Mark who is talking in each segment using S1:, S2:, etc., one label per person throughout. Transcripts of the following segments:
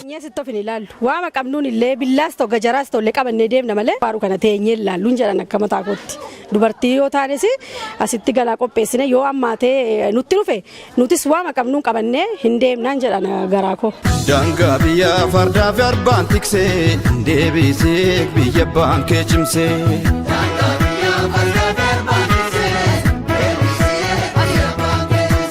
S1: Teenyee sitti of hin ilaallu. Waama qabnuun illee billaas ta'u gajaraas ta'u illee qabannee deemna malee faaruu kana teenyee hin ilaalluun jedhan akka mataa kootti. Dubartii yoo taanes asitti galaa qopheessine yoo ammaatee nutti dhufe nutis waama qabnuun qabannee hin deemnaan jedhan garaa koo. Daangaa biyyaa
S2: fardaa fi arbaan tiksee deebisee biyya abbaan kee cimsee. Daangaa biyyaa fardaa fi arbaan tiksee deebisee biyya abbaan kee cimsee.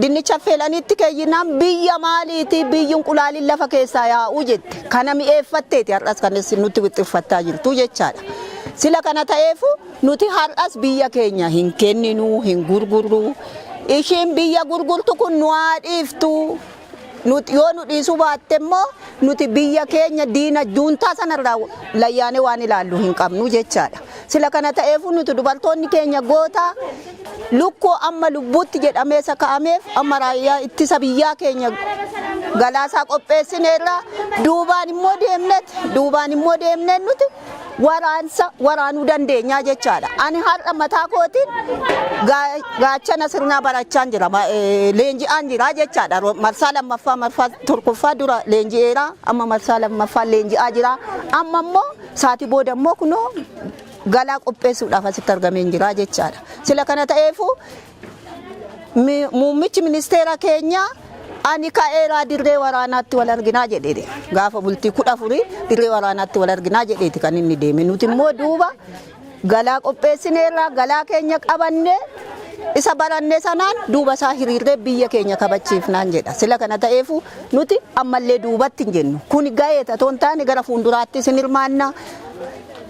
S3: Dinnicha affeelaniitti keeyyinaan biyya maaliiti biyyi inqulaaliin lafa keessaa yaa'u jette. Kana mi'eeffatteeti har'as kan isin nutti wixxiffattaa jirtu jechaadha. Sila kana ta'eefu nuti har'as biyya keenya hin kenninu, hin gurgurru. Ishiin biyya gurgurtu kun nu haa dhiiftu. Nuti yoo nu dhiisuu baatte immoo nuti biyya keenya diina juuntaa sanarraa layyaanee waan ilaallu hin qabnu jechaadha. Sila kana ta'eefu nuti dubartoonni keenya goota Lukkuu amma lubbuutti jedhamee saka'ameef amma raayyaa ittisa biyyaa keenya galaasaa qopheessineerra duubaan immoo deemnet duubaan immoo deemneen nuti waraansa waraanuu dandeenyaa jechaadha. Ani har'a mataa kootiin gaa- gaachana sirnaa barachaan jira ma- eh, leenji'aan jira jechaadha. Ro- Marsaa lammaffaa marsaa tokkoffaa dura leenji'eera amma marsaa lammaffaa leenji'aa jira amma immoo saati booda immoo kunoo galaa qopheessuudhaaf asitti argameen jira jechaadha. Sila kana ta'eefuu mi- muummichi ministeera keenyaa ani ka'eeraa dirree waraanaatti wal arginaa jedheedha. Gaafa bultii kudha afurii dirree waraanaatti wal arginaa jedheeti kan inni deeme. Nuti immoo duuba galaa qopheessineerraa galaa keenya qabannee isa baranne sanaan duuba isaa hiriirree biyya keenya kabachiifnaan jedha. Sila kana ta'eefuu nuti ammallee duubatti hin jennu. Kun ga'eeta otoo hin taane gara fuulduraatti isin hirmaannaa.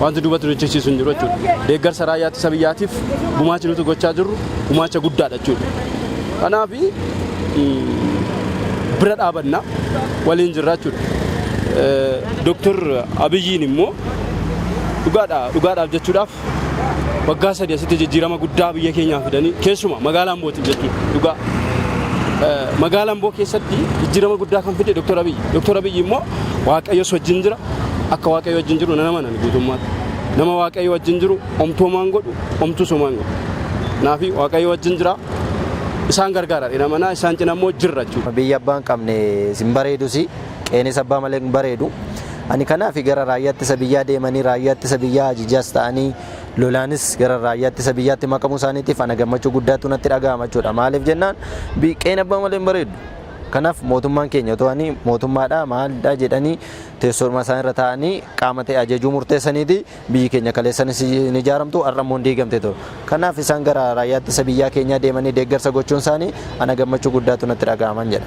S4: Wanti duubatti nu jechisiisu hin jiru jechuudha. Deeggarsa raayyaa ittisa biyyaatiif gumaachi nuti gochaa jirru gumaacha guddaadha jechuudha. Kanaaf bira dhaabanna waliin jirra jechuudha. Dooktar Abiyyiin immoo dhugaadha dhugaadhaaf jechuudhaaf waggaa sadii asitti jijjiirama guddaa biyya keenyaa fidanii keessumaa magaalaa Ambootiif jechuudha dhugaa. Magaalaa Amboo keessatti jijjiirama guddaa kan fide Dr. Abiyyi. Dr. Abiyyi immoo Waaqayyos wajjin jira akka Waaqayyo wajjin jiru nan amanan guutummaatti. Nama Waaqayyo wajjin jiru omtuu homaan godhu omtuus homaan godhu. Naafi Waaqayyo wajjin jira isaan gargaara dha namanaa isaan cina immoo jirra jechuudha. Biyya abbaan qabne
S5: sin bareedusi. Qeenis abbaa malee hin bareedu. Ani kanaafi gara raayyaa ittisa biyyaa deemanii raayyaa ittisa biyyaa ajajaas ta'anii lolaanis gara raayyaa ittisa biyyaatti makamuu isaaniitiif ana gammachuu guddaatu natti dhaga'ama jechuudha. Maaliif jennaan qeen abbaa malee hin bareedu. Kanaaf mootummaan keenya otoo ani mootummaadha maaldha jedhanii teessoorma isaan irra taa'anii qaama ta'e ajajuu murteessaniiti biyyi keenya kaleessanis hin ijaaramtu har'a immoo hin diigamte ture. Kanaaf isaan gara raayyaa ittisa biyyaa keenyaa deemanii deeggarsa gochuun isaanii ana gammachuu guddaatu natti dhaga'aman jedha.